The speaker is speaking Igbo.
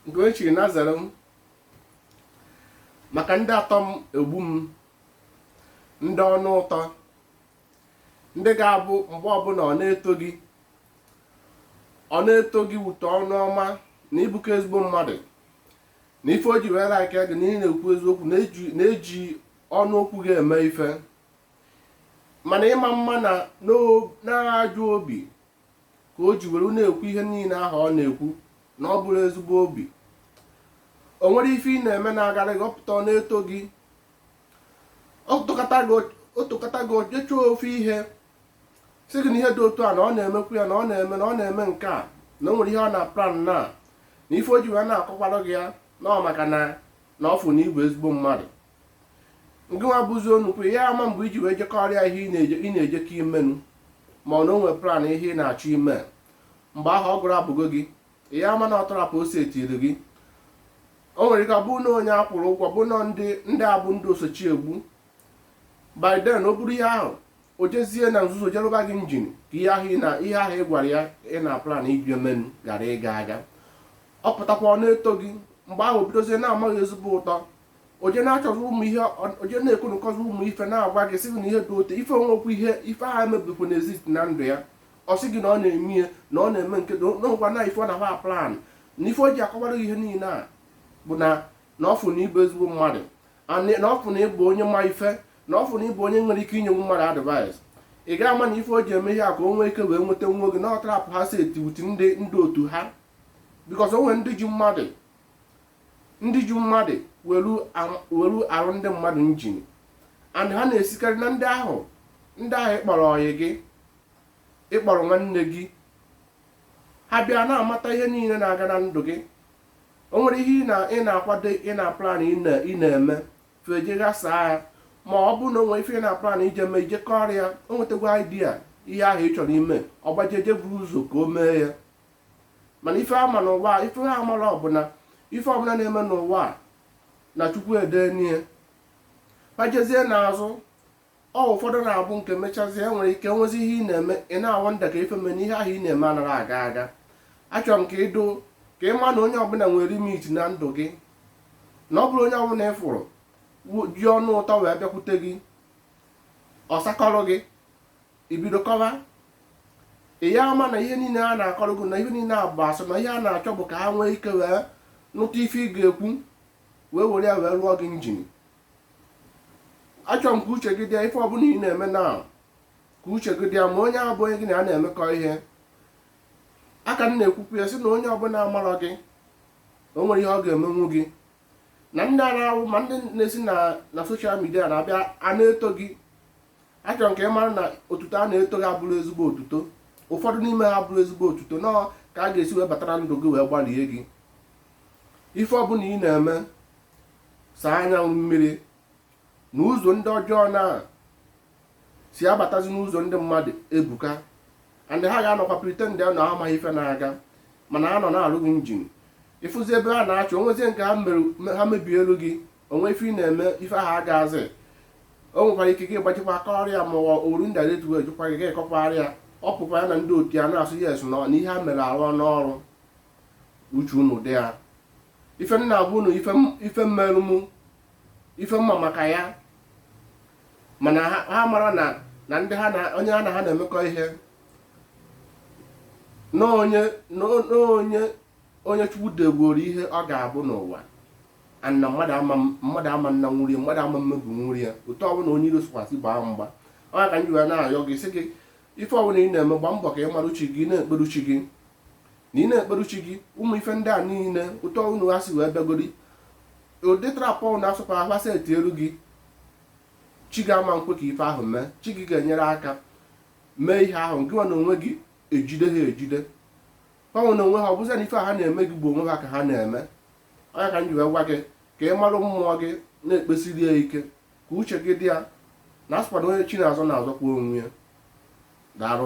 nke o chiri na zere m maka ndị atọ m egbu m ndị ọnụ ụtọ ndị ga-abụ mgbe ọbụla ọ na-eto gị ọ na-eto gị wute ọnụ ọma na ị bụkọ ezigbo mmadụ na ife o ji wee like gị na ị na-ekwu eziokwu na-eji ọnụ okwu gị eme ife mana ị ma ama na na ajọ obi ka o ji were na-ekwu ihe niile ahụ ọ na-ekwu na ọ bụrọ ezigbo obi o nwere ife ị na-eme na-agara gị ọ pụta ọ na-eto gị o tokata gị o je chọọ ofu ihe sị gị na ihe dị otu a na ọ na-emekwu ya na ọ na-eme na ọ na-eme nke a na o nwere ihe ọ na-aplan na na ife o ji wee na-akọkwara gị ya na ọ maka na na ọ fụ na ị bụ ezigbo mmadụ ngịnwa bụzi onukwu ya ama mgbe i ji wee je kọọrọ ya ihe ị na-ejekọ ime nu ma ọ na o nwe plan ihe ị na-achọ ime mgbe ahụ ọ gụrụ abụgo gị ya ama na ọ trap o setiri gị o nwere ike ọ bụrụ na onye a kwụrụ ụgwọ bụ na ndị ndị a bụ ndị osochi egbu by then o buru ihe ahụ o jezie na nzuzo je rụba gị njin ka ihe ahụ na ihe ahụ ị gwara ya ị na-aplan ije menu ghara ịga aga ọ pụtakwa ọ na-eto gị mgbe ahụ bidozie na-ama gị ezigbo ụtọ o je na-achọzi ụmụ ihe o je na-ekonukọzi ụmụ ife na-agwa gị sị gị na ihe dị otu a ife nwekwu ihe ife ha emebikwu na-exist na ndụ ya ọ sị gị na ọ na-eme ihe na ọ na-eme nke nụnwa na ife ọ na-agba plan na ife o ji akọwara gị ihe niile a bụ na na ọ fụ na ị bụ ezigbo mmadụ na ọ fụ na ị bụ onye ma ife na ọ fụ na ị bụ onye nwere ike inyenwu mmadụ advice ị ga ama na ife o ji eme ihe a ka o nwee ike wee nweta nwa oge na ọ trap ha seti with ndị ndị otu ha because o nwere ndị ji mmadụ ndị ji mmadụ welu arụ ndị mmadụ njin and ha na-esikarị na ndị ahụ ndị ahụ ị kpọrọ ọyị gị ị kpọrọ nwanne gị ha bịa na-amata ihe niile na-aga na ndụ gị o nwere ihe ị na-akwado ị na-aplan ị na-eme feje ghasaa ya ma ọ bụ na o nwere ife ị na-aplan ije mee i je kọọrọ ya o nwetakwa idea ihe ahụ ị chọrọ ime ọ gbaje je buru ụzọ ka o mee ya mana ife ama n'ụwa a ife ha amarọ bụ na ife ọbụla na-eme n'ụwa a na chukwu edenie pajezie n'azụ ọ ụfọdụ na-abụ nke mechazie e nwere ike nwezi ihe ị na-eme ị na-awonder ka ife mee na ihe ahụ ị na-eme anaghị aga aga achọrọ m ka ịdụ ka ị ma na onye ọbụla nwere limit na ndụ gị na ọ bụrọ onye ọbụla ị fụrụ ji ọnụ ụtọ wee bịakwute gị ọ sakọrọ gị i bido kọwa ị ya ama na ihe niile a na-akọrọ gị na ihe niile a bụ asị na ihe ha na-achọ bụ ka ha nwee ike wee nụta ife ị ga-ekwu wee were ya wee rụọ gị njin achọrọ m ka uche gị dị ya ife ọbụla ị na-eme na ka uche gị dị ya ma onye ahụ bụ onye gị na ya na-emekọ ihe aka m na-ekwukwu ya sị na onye ọbụla amarọ gị o nwerọ ihe ọ ga-emenwu gị na ndị a na-awụ ma ndị na-esi na social media na-abịa a na-eto gị achọrọ m ka ị mara na otuto a na-eto gị abụrọ ezigbo otuto ụfọdụ n'ime ha abụrọ ezigbo otuto na ọ ka a ga-esi wee batara ndụ gị wee gbalie gị ife ọbụla ị na-eme saa anya na mmiri na ụzọ ndị ọjọọ na-esi abatazi n'ụzọ ndị mmadụ ebuka and ha ga-anọkwa pretend ya na ha amaghị ife na-aga mana ha nọ na-arụ gị njin ị fụzi ebe ha na-achọ o nwezie nke ha mebielụ gị o nwee ife ị na-eme ife ahụ agaazị o nwekwara ike gị gbajikwa aka ọrịa ma ọ oru ndị adet wee jụkwa gị ga-akọkwara ya ọ pụkwa ya na ndị otu ya na-asị yes na ihe ha mere arụna ọrụ uche unu dị ya ife m na-agwa unu ife merụ m ife m ma maka ya mana ha amarọ na na ndị ha na onye ha na ha na-emekọ ihe na onye onye Chukwu degworo ihe ọ ga-abụ n'ụwa na mmadụ ama mmadụ ama nnanwuri ya mmadụ ama mmebinwuri ya otu ọbụla onye iro sikwasị gbaa mgba ọ ya ka m ji wee na-ayọ gị sị gị ife ọbụla ị na-eme gba mbọ ka ị marụ chi gị na-ekperụ chi gị na ị na-ekperụ chi gị ụmụ ife ndị a niile otu ọbụla ha si wee bịagodi ụdị trap na-asọkwa ha setielụ gị chi gị ama nkwe ka ife ahụ mee chi gị ga-enyere aka mee ihe ahụ gị nwa na onwe gị ejide ha ejide ha nwa na onwe ha ọ bụzi na ife ha na-eme gị bụ onwe ha ka ha na-eme ọ ya ka m ji wee gwa gị ka ị marụ mmụọ gị na-ekpesiri ya ike ka uche gị dị ya na a sịkwa na onye chi na-azọ na-azọkwa onwe ya daalụ